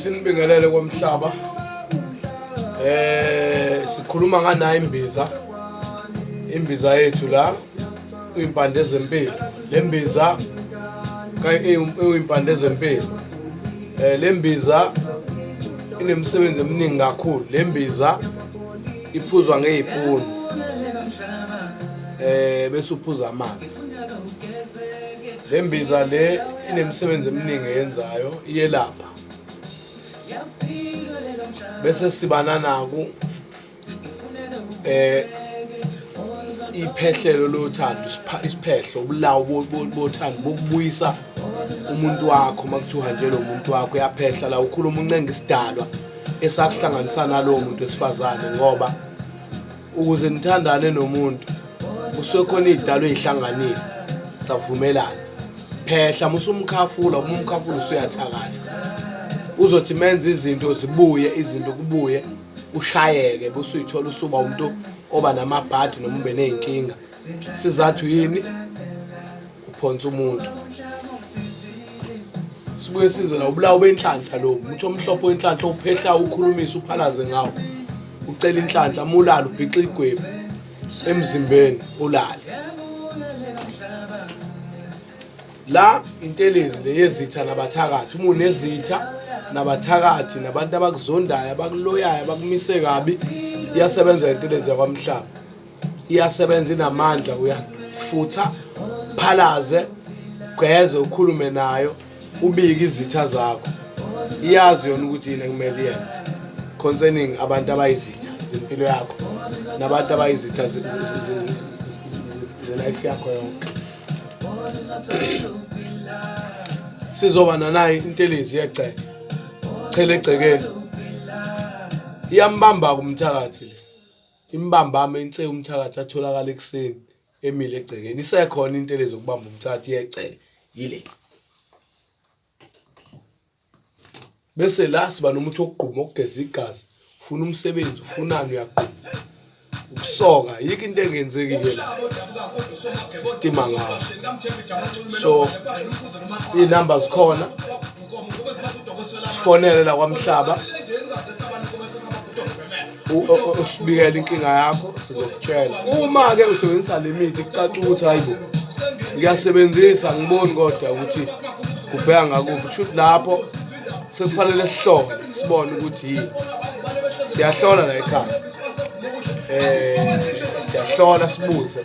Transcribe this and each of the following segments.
sinibingelele komhlaba eh sikhuluma nganayo imbiza imbiza yethu la uyimpande zempilo lembiza uyimpande zempilo eh lembiza inemisebenzi eminingi kakhulu lembiza iphuzwa ngeyipuni eh bese uphuza amanzi Le mbiza le inemisebenzi eminingi eyenzayo iyelapha bese siba nanaku eh iphehlelo lothando isiphehlo ubulawo bothando bokubuyisa umuntu wakho uma kuthiwa uhanjelwe umuntu wakho uyaphehla la ukhuluma uncenga isidalwa esakuhlanganisa nalowo muntu wesifazane ngoba ukuze nithandane nomuntu kusuke khona iy'dalo ey'hlanganile savumelana phehla musumkhafula uma umkhafula usuyathakatha uzothi menze izinto zibuye izinto kubuye ushayeke busuyithola usuba umuntu oba namabhadi noma ube ney'nkinga sizathu yini uphonsa umuntu sibuye size la ubulawu benhlanhla lo umuntu omhlophe wenhlanhla uphehla ukhulumisa uphalaze ngawo ucela inhlanhla mulala ubhixa igwebu emzimbeni ulale la intelezi leyezitha nabathakathi uma unezitha nabathakathi nabantu abakuzondayo abakuloyayo abakumise kabi iyasebenza intelezi yakwamhlaba iyasebenza inamandla uyafutha phalaze gqeze ukhulume nayo ubike izitha zakho iyazi yona ukuthi yini ekumele iyenze concerning abantu abayizitha zempilo yakho nabantu abayizitha zelife yakho yonke sizoba nanayo intelezi yegceke chele egcekeni iyambamba kumthakathi Imbambama ense umthakathi atholakala ekuseni emile egcekeni. Isekhona into elezi ukubamba umthakathi yegceke yile. Bese la siba nomuthi wokugquma okugeza igazi. Ufuna umsebenzi, ufunani uyagquma. Ukusoka yikho into engenzeki ke la. Sistima ngawo. So inamba zikhona. Sifonele la kwamhlaba. usibikela inkinga yakho sizokutshela uma-ke usebenzisa le mithi kucaca ukuthi hayi bo ngiyasebenzisa ngiboni kodwa ukuthi kubheka ngakuphi kusho ukuthi lapho sekufanele sihlole sibone ukuthi yini siyahlola la ekhaya um siyahlola sibuze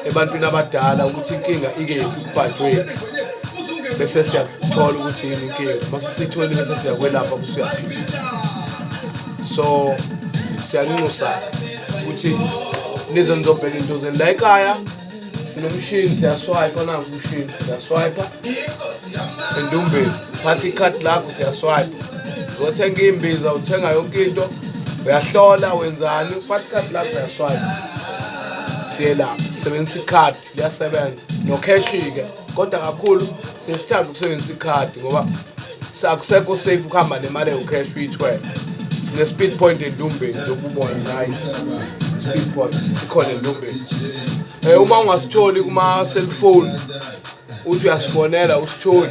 ebantwini abadala ukuthi inkinga ikephi kubhajweni bese siyathola ukuthi yini inkinga uma sisitholi bese siyakwelapha kusuyaphila so siyanxusa ukuthi nize nizobheka into zenu la ekhaya sinomshini siyaswipa nangu umshini siyaswipa endumbeni thatha ikhadi lakho siyaswipa uzothenga iy'mbiza uthenga yonke into uyahlola wenzani uphatha ikhadi lakho uyaswipa siyelapha sebenzisa ikhadi liyasebenza nokheshi-ke kodwa kakhulu sesithanda ukusebenzisa ikhadi ngoba akusekho safe ukuhamba nemali ewukheshi uyithwele sine-speed point endumbeni lokubona nayi speed point sikhona endumbeni um uma ungasitholi kuma-cellphone uthi uyasifonela usitholi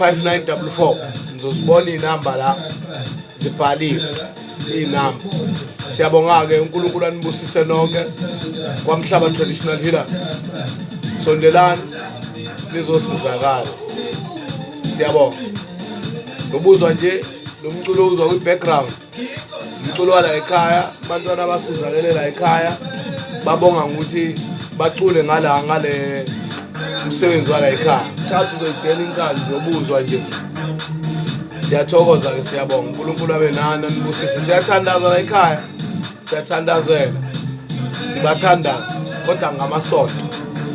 5944 ngizozibona iy'namba la zibhaliwe iy'namba siyabonga-ke unkulunkulu anibusise nonke kwamhlaba traditional healer sondelani lizosizakala siyabonga nobuzwa nje lo mculo uzwa kwi-background umculo wala ekhaya abantwana abasizakele la ekhaya babonga ngokuthi bacule ngala ngale umsebenzi wala ekhaya thatha uzeyidela inkani zobuzwa nje siyathokoza-ke siyabonga unkulunkulu abe nani anibusise siyathandaza la ekhaya siyathandazela sibathandaza kodwa ngamasonto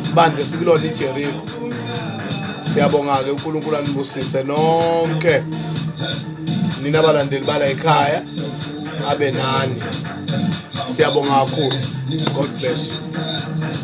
ibandla esikulona ijeriko siyabonga-ke unkulunkulu anibusise nonke nina abalandeli bala ekhaya abe nani siyabonga kakhulu god bless you